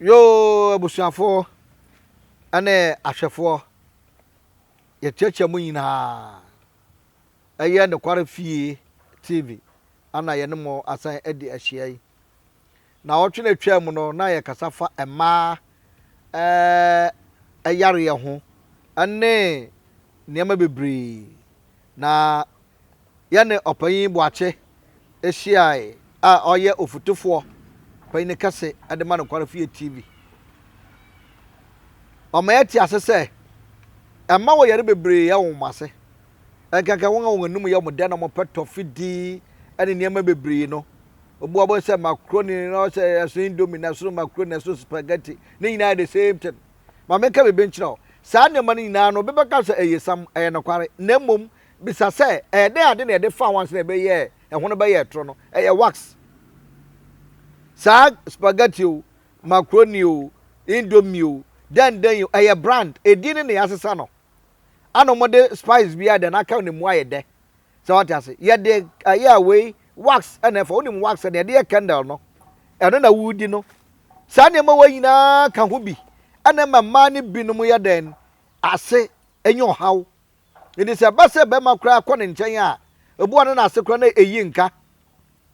Yoo abusuafoɔ ne ahwɛfoɔ, yɛkyerɛkyerɛ mo nyinaa. Ɛyɛ Nokware Fie TV ana yɛne mo asan adi ahyia yi. Naawɔtwe no atwaa mu no, na yɛkasa fa mmaa eh, yareɛ ho ne nneɛma bebree. Na yɛne ɔpanyin Boakye hyiae a ɔyɛ ofutufoɔ panyin kɛse de ma Nokware Fie TV. Ɔma yɛte ase sɛ ɛmma wɔyare bebree yɛ wɔn ase. Ɛnkanka wɔn a wɔn anom yɛ wɔn dɛ na wɔpɛ tɔfe di ne nneɛma bebree no. Obi wɔ hɔ sɛ macaroni na ɔsɛ ɛso indomie na ɛso macaroni na ɛso spaghetti. Ne nyinaa yɛ the same thing. Ma menka biribi nkyerɛ wo. Saa nneɛma no nyinaa no, obi bɛka sɛ ɛyɛ sam, ɛyɛ nokware. Na mmom, bisa sɛ, ɛyɛ dɛn ade na yɛde faa ho ansa na ɛbɛyɛɛ, ɛho no bɛyɛɛ toro no? Ɛyɛ wax. Saa spaghetti o, macaroni o, indomie o, dɛn dɛn o, ɛyɛ brand. Edin no na yɛasesa no. Ana ɔmo de spice bi ayɛ dɛ na kɛw ne mu ayɛ dɛ. Sɛ wate ase. Yɛde ɛyɛ a wei wax ɛna ɛfa. Wonim wax ɛna yɛde yɛ candle no. Ɛno na wodi no. Saa nneɛma wei nyinaa ka ho bi ɛna ɛma mmaa no binom yɛ dɛn? Ase nya ɔhaw. Nti sɛ ɛba sɛ bɛɛma koraa kɔ ne nkyɛn a, ebi wɔ hɔ a na n'ase koraa na eyi nka.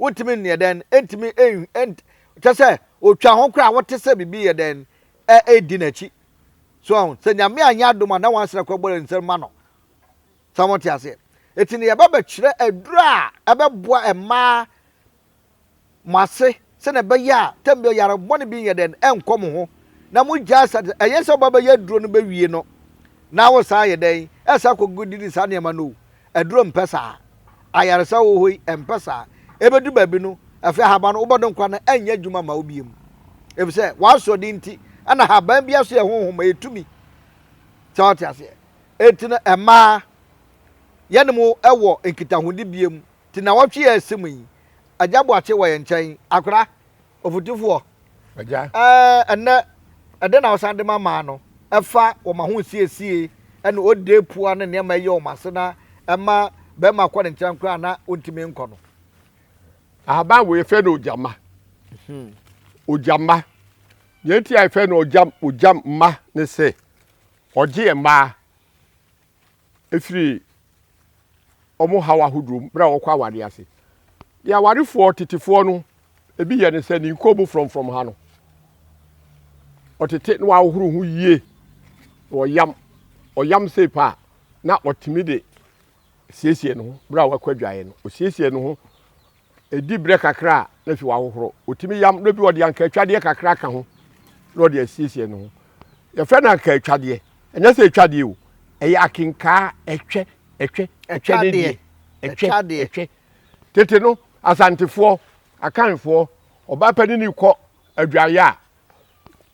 Wontumi nyɛ dɛn? Entumi en ent kyerɛ sɛ otwa ho koraa a wote sɛ biribi yɛ dɛn? Ɛ edi n'akyi. So ahu? Sɛ Nyame annyɛ adom a, na wɔasan akɔ abɔre nsɛm ma no. Sɛ mote aseɛ? Enti no yɛba bɛkyerɛ aduro a ɛbɛboa mmaa mo ase sɛdeɛ ɛbɛyɛ a tam bi ɔyare bɔne bi nyɛ dɛn ɛnkɔ mo ho na mo gyae sa, ɛnyɛ sɛ woba bɛyɛ aduro no bɛwie no na wosan ayɛ dɛn ɛsan akɔ didi saa nneɛma no o. Aduro mpɛ saa. Ayaresa wɔ hɔ yi mpɛ saa. Ɛbɛdu baabi no, afei ahaban no, wobɛdɔ nkwa no, ɛrenyɛ adwuma mma wo bio. Ɛfiri sɛ, w'asoɔden nti, ɛna ahaban biara so yɛ honhom, ɛyɛ tumi. Sɛ wote aseɛ? Enti no, mmaa, yɛne mo wɔ nkitahodibea mu. Te nnawɔtwe a ɛsi mu yi, Agya Boakye wɔ yɛn nkyɛn. Akwadaa, Ɔfotufoɔ, Agya, ɛnnɛ ɛdɛn na wosan de ma maa no? Ɛfa wɔn ahosiesie ne ɔdee pua ne nneɛma ɛyɛ wɔn ase na ɛma bɛrima kɔ ne nkyɛn koraa na ɔntumi nkɔ no. Ahaban wei yɛfrɛ no ogyamma. Hmm. Ogyamma. Deɛ nti a yɛfrɛ no ogyam ogyamma ne sɛ ɔgye mmaa. firi wɔn haw ahodoɔ mu berɛ a wɔkɔ awadeɛ ase. Deɛ awarefoɔ tetefoɔ no ebi yɛ ne sɛ ne nkɔn mu frɔmfrɔm ha no, ɔtete na wahohoro ho yie na ɔyam ɔyam sei pa a na ɔtumi de siesie ne ho berɛ a wakɔ adwaeɛ no ɔsiesie ne ho Ɛdi berɛ kakra a, na afie hɔ ahohoro. Ɔtumi yam, na bi ɔde ankaatwadeɛ kakra ka ho na ɔde asiesie ne ho. Yɛfrɛ no ankaatwadeɛ. Ɛnyɛ sɛ ɛtwa deɛ o, ɛyɛ akenkaa, ɛtwɛ, ɛtwɛ, ɛtwɛ ne deɛ. Ɛtwɛ, ɛtwɛ. Tete no, Asantefoɔ, Akanfoɔ, ɔbaa panini kɔ adwareɛ a,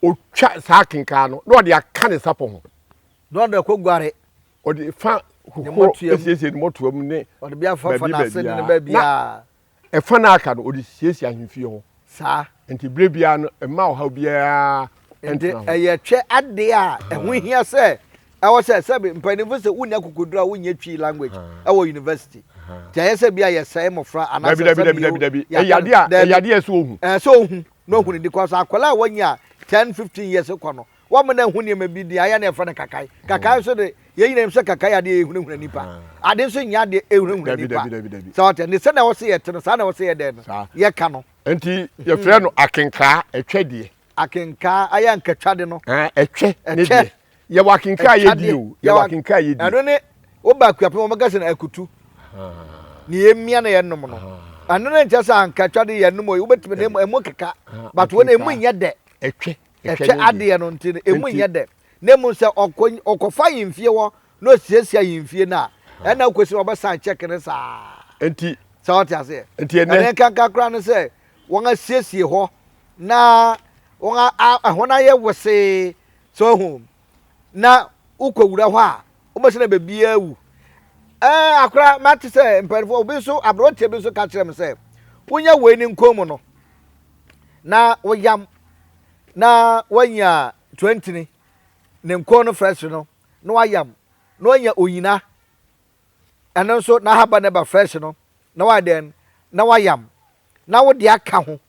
ɔtwa saa akenkaa no na ɔde aka ne sapɔ ho. Na ɔde kɔguare. Ɔde fa horow siesie ne mmɔtoa mu ne baabi baabiara. Na ɛfa no aka no, ɔde siesie ahemfie hɔ. Saa. Nti bere biara no, mma ɔhaw biara ntena ho. Ɛyɛ twɛ ade a ɛho hia sɛ ɛwɔ sɛ sɛbi mpanyinfo sɛ wonni akokoduru a wonyɛ twi language ɛwɔ university ti ayɛ sɛ bi a yɛsɛe mmɔfra anaasɛ sɛbi dabi dabi dabi ɛyɛ ade a ɛyɛ ade a ɛsɛ ohun ɛsɛ ohun na ohun ne di kɔ so akwadaa a wɔnyɛ a ten fifteen years kɔ no Wɔma no ahu nneɛma bi de ayɛ na yɛfrɛ no kakae. Kakae nso de, yɛn nyinaa nim sɛ kakae yɛ adeɛ a ɛhunahuna nnipa. Ade nso nyɛ adeɛ a ɛhunahuna Dabi, nnipa. dabi, dabi, dabi. Sɛ ɔte ne sɛnea ɛwɔ sɛ yɛte no, saa na ɛwɔ sɛ yɛdɛn no, Saa. yɛka no. Enti yɛfrɛ no akenkaa, ɛtwɛ deɛ. Akenkaa, ayɛ ankatwade no. Aa, ɛtwɛ ne Ɛtwɛ. deɛ. Yɛwɔ akenkaa a yɛdi o. Ɛtwadeɛ. Yɛwɔ akenkaa a yɛdi. Ɛno ne, woba Akuapem a, wɔka sɛ no akutu. Nea yɛmia na yɛnom no. Ɛno no nkyerɛ sɛ ankatwade yɛnom o, wobɛtumi de, ɛmu- ɛmu keka. But wei no, ɛmu nyɛ dɛ. Ɛtwɛ. Ɛhwɛ adeɛ no nti no, ɛmu nyɛ dɛ. Na mmom sɛ ɔkɔfa ayemfie hɔ na ɔsiesie ayemfie no a, ɛna wokɔsi na wɔbɛsan check no saa. Nti. Sɛ ɔte aseɛ. Nti ɛnɛ. Ɛnɛ nkanka koraa no sɛ wɔn asiesie hɔ na wɔn a ɛhɔ no ayɛ wosee sɛ ɔhu. na wokɔ wura hɔ a wobɛsɛ na baabiara wu ɛɛ akora mate sɛ mpanimfoɔ obi nso aberanteɛ bi nso ka kyerɛ me sɛ wonya wei ne nkɔn mu no na woyam na wanya tuantini ne nkɔn no frɛsere no na wayam na wanya onyina ɛno nso n'ahaban no ba fresh no na wayɛ dɛn na wayam na wode aka ho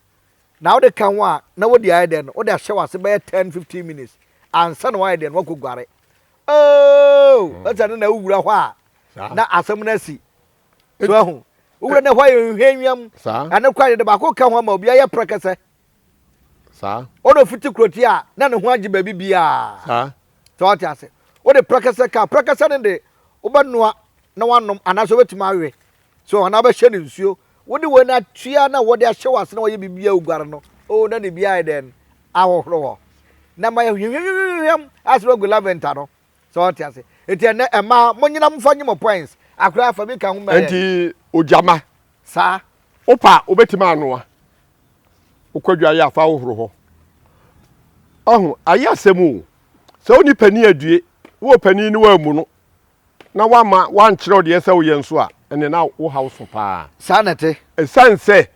na wode ka ho a na wode ayɛ dɛn no wode ahyɛ wase bɛyɛ ten fifteen minutes ansa na wayɛ dɛn wakɔ guare ooo hmm. ɛsɛ no na wowura hɔ a na asɛm no asi so ahu wowura no hɔ yɛ nhwɛ nwiam ɛne kɔ ayɛ de baako ka ho ama obi ayɛ prɛkɛsɛ Saa. Wo de fete kuroti a, na ne ho agye baabi biara. Saa. So wate ase? Wo de prɛkɛsɛ ka, prɛkɛsɛ no de, wobɛnoa na wanom anaasɛ wobɛtumi awe. So anaa wobɛhyɛ no nsuo. Wo de wei no atua na wɔde ahyɛ wo ase na wɔyɛ biribi a woguare no. Oo na ne bi ayɛ dɛn? Ahohoro hɔ. Na ma yɛhwehwɛm ayɛ sɛ wagu laventa no. So ɔte ase? Eti ɛnɛ ɛmaa mo nyina mo fa nye mo points. Akora fa bi ka ho ma yɛn. Enti ogyama. Saa. Wopa a wobɛtumi anoa. Wokɔ adwaeɛ a fa wohoro hɔ. Ɔho ayɛ asɛm o. Sɛ woni panin adue, wowɔ panin ne woammu no na woama woankyerɛw deɛ ɛsɛ woyɛ nso a, ɛne na wo haw so paa. Saa na ɛte. Ɛsiane sɛ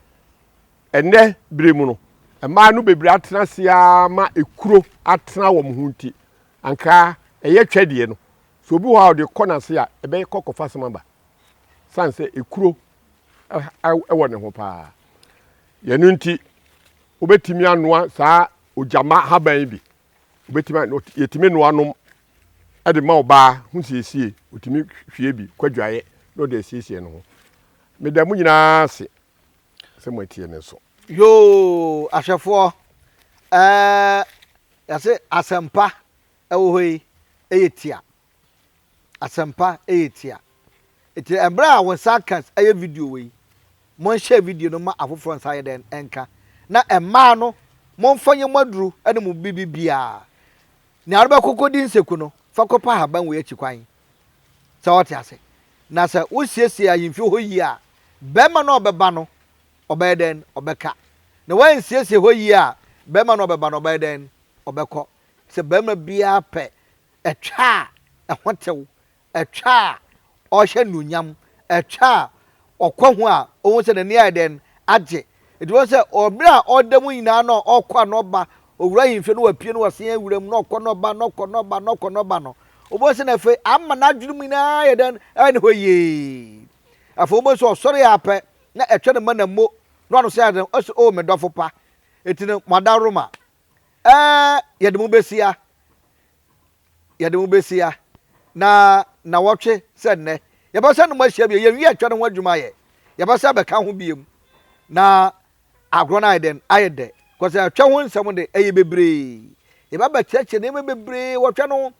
ɛnɛ bere mu no mmaa no bebree atena ase ara ma ekuro atena wɔn ho nti, Anka ɛyɛ twɛdeɛ no, sɛ obi wɔ hɔ a ɔde kɔ n'ase a, ɛbɛkɔ kɔfa asɛm aba. Sane sɛ ekuro wɔ ne ho paa. Yɛno nti, wobɛtumi anoa saa ogyama haban yi bi. Yɛtumi noa nom de ma ɔbaa ho siesie. Ɔtumi hwie bi kɔ adwaeɛ na ɔde asiesie ne ho. Meda mo nyinaa ase sɛ moatie me nso. Yoo ahwɛfoɔ ɛɛ Yɛse asɛmpa ɛwɔ hɔ yi ɛyɛ tia asɛmpa ɛyɛ tia eti ɛbrɛ a wɔn san ka ɛyɛ video wɔ yi mon share video no ma afoforɔ nsa yɛ dɛn ɛnka na ɛmaa no mon fa nyɛ mo aduru ɛne mo bibi biaa nea ɔde bɛkɔ kɔdi nseku no fa kɔ pa haban wei akyi kwan sɛ ɔte ase na sɛ wo siesie ahemfie hɔ yie a bɛɛma no a ɔbɛba no Ɔbɛyɛ dɛn? Ɔbɛka. Na woansiesie hɔ yie a, barima no a ɔbɛba no, ɔbɛyɛ dɛn? Ɔbɛkɔ. Sɛ barima biara pɛ ɛtwa a ɛho tew, ɛtwa a ɔhyɛ anuonyam, ɛtwa a ɔkɔ ho a, ɔhu sɛ n'ani ayɛ dɛn? Agye. Nti wobɛhu sɛ ɔberɛ a ɔda mu nyinaa na ɔkɔ a na ɔba, ɔwura ahemfie na wapue na wasan awura mu na ɔkɔ na ɔba, na ɔkɔ na ɔba, na ɔkɔ na ɔba no, wobɛhu sɛ na afei ama n'adwene mu nyinaa ayɛ dɛn? Ayɛ ne hɔ yie. Afei wobɛhu sɛ ɔsɔre ara pɛ, na ɛtwɛ no ma na mmo no ano sɛ ade no, ɔse, O me dɔfo pa, enti no moadaworoma, ɛɛ, yɛde mo behyia, yɛde mo behyia, na nnawɔtwe sɛ nnɛ, yɛbɛsan ne mo ahyia bio, yɛnwie ɛtwɛ no ho adwuma yɛ, yɛbɛsan abɛka ho biom, na agorɔ no ayɛ dɛn? Ayɛ dɛ, kɔsɛ ɛtwɛ ho nsɛm de, ɛyɛ bebree, yɛba abɛkyerɛkyerɛ nneɛma bebree wɔ ɛtwɛ no ho,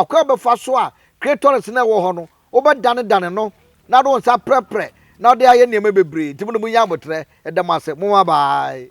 ɔkwan a wɔbɛfa so a Cratorus no a ɛwɔ hɔ no Wobɛdanedane no, na wode wo nsa aprɛprɛ, na wode ayɛ nneɛma bebree. Enti mo na munnya aboterɛ. Yɛda mo ase. Mo mmabaae.